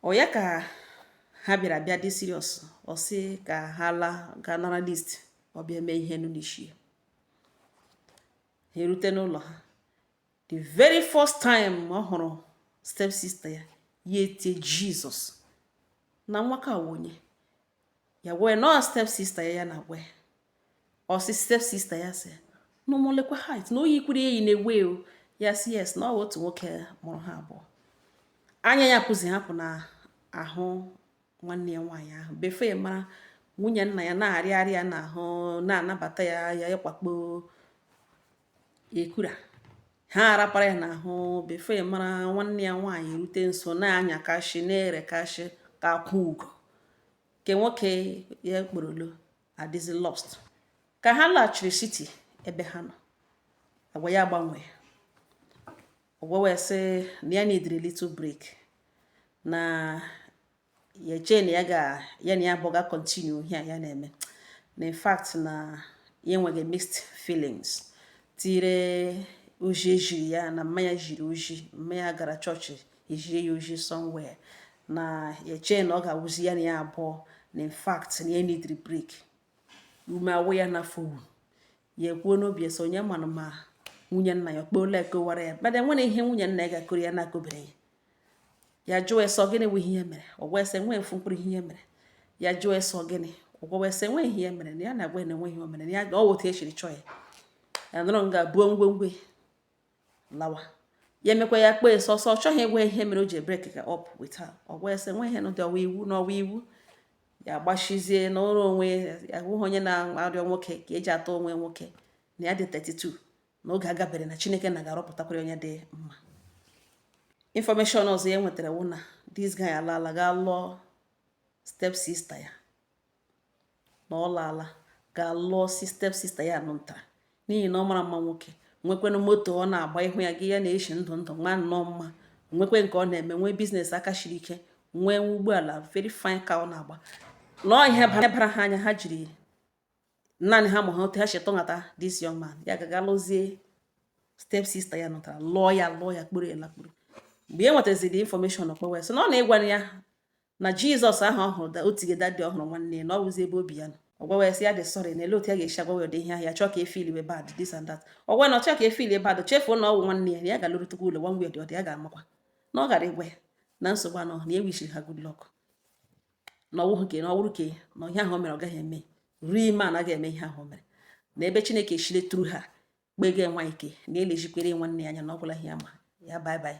ọ ya ka ha bịara bịa dị serious ọ sị ka ha laa ga nara list ọ bịa mee ihe nụ n'isi ha erute n'ụlọ ha the very first time ọ hụrụ step sister ya ya etie jizọs na nwaka wụ onye ya wee nọ step sister ya ya na gwe ọ sị step sister ya sị n'ụmụlekwa height na o yikwuru ya eyi na-ewe o ya sị yes na ọ wụ otu nwoke mụrụ ha abụọ anya ya apụzihị apụ n'ahụ nwanne ya nwaanyị ahụ before ya mara nwunye nna ya na-arịa arịa n'ahụ na-anabata ya ya ịkwakpo ekura ha arapara ya n'ahụ before mara nwanne ya nwaanyị erute nso na-anya kashi na-ere kashi ka akwụ ugo nke nwoke ya kpọrọ lọ adịzi lost ka ha laghachiri city ebe ha nọ agwa ya gbanwee ọ gwawa ya sị na ya neediri little break na ya chee na ya na ya abụọ ga continue ihe a ya na-eme na in fact na ya enwega mixed feelings tire ozi e ziri ya na mma ya ziri ozi mma ya gara chọọchị e ziri ya ozi somewhere na ya chee na ọ ga-awụzi ya na ya abụọ na in fact na ya neediri break ume awụ ya n'afọ ya ekwuo n'obi ya sị onye manụ ma nwunye nna ya ọ kpọọla ya kọwara ya mana enwere ihe nwunye nna ya ga-akọrọ ya na-akọbere ya ya jụọ ya sị gịnị bụ ihe mere ọ gwa ya sị enwee ofu mkpụrụ ihe mere ya jụọ ya sị gịnị ọ gwa ya sị enwee ihe mere na ya na-agwa na enweghị o mere ya ọ wụta echiri chọọ ya ya nọrọ nga buo ngwongwo ya lawa ya emekwa ya kpọọ ya sị so ọ chọghị ịgwa ihe mere o ji ebreaka up with her ọ gwa ya sị enwe ihe n'ụdị ọwa iwu n'ọwa iwu ya agbachizie n'ụlọ onwe ya hụghị onye na-arịọ nwoke ka eji atọ onwe nwoke na ya dị 32 na oge agabere na chineke na ga-arọpụtakwara onye dị mma information ọzọ ya nwetara wụ na this guy alaala gaa lụọ step sister ya na ọ laala ga lụọ step sister ya nụ nta n'ihi na ọ mara mma nwoke nwekwanụ moto ọ na-agba ịhụ ya gị ya na-eshi ndụ ndụ nwa nnọọ mma nwekwa nke ọ na-eme nwee business aka shiri ike nwee nwa ụgbọala very fine ka ọ na-agba nọọ ihe bara ha anya ha jiri naanị ha ma ha otu ha si tọghata this young man ya gaga lụzie step sister ya nụtara lụọ ya lụọ ya kpọrọ ya lakpuru mgbe ya nwetaziri information ọ kpọwa ya sị na ọ na-ịgwara ya na jizọs ahụ ọ hụrụ da o tige that day ọ hụrụ nwanne ya na ọ wụzi ebe obi ya nọ ọ gwawa ya sị ya dị sorry na ele otu ya ga-esi agwa ya ụdị ihe ahụ ya chọọ ka efeelwe bad this and that ọ gwa na ọ chọọ ka efeel bad chefuo na ọ wụ nwanne ya na ya ga-alụrụtụkwa ụlọ nwa nwunye dị ọdị ya ga-amakwa na ọ gara ịgwa ya na nsogbu anọ na ya wishiri ha good luck na ọwụhụ ke na ọwụrụ ke na ihe ahụ o mere ọ gaghị eme ruo ime a naghị eme ihe ahụ o mere na ebe chineke chile tru ha kpega nwa ike na elejikwere nwanne ya anya na ọ gwụla ihe ya ma ya bye bye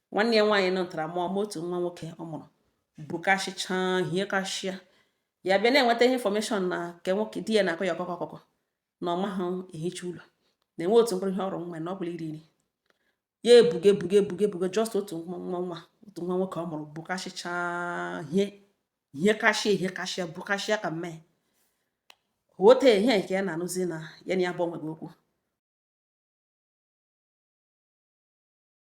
nwanne ya nwaanyị nọtara mụọ otu nwa nwoke ọ mụrụ bukasịcha ihe kashia ya bịa na-enweta ihe information na nke nwoke di ya na-akọ ya ọkọkọ ọkọkọ na ọ maghị ehicha ụlọ na-enwe otu mkpụrụ ihe ọrụ nwa na ọ bụla iri iri ya ebuga ebuga ebuga ebuga just otu nwa nwa otu nwa nwoke ọ mụrụ bukasịcha hie ihe kashia ihe kashia bukashia ka mmee ote ihe nke ya na-anụzi na ya na ya bụ onwe okwu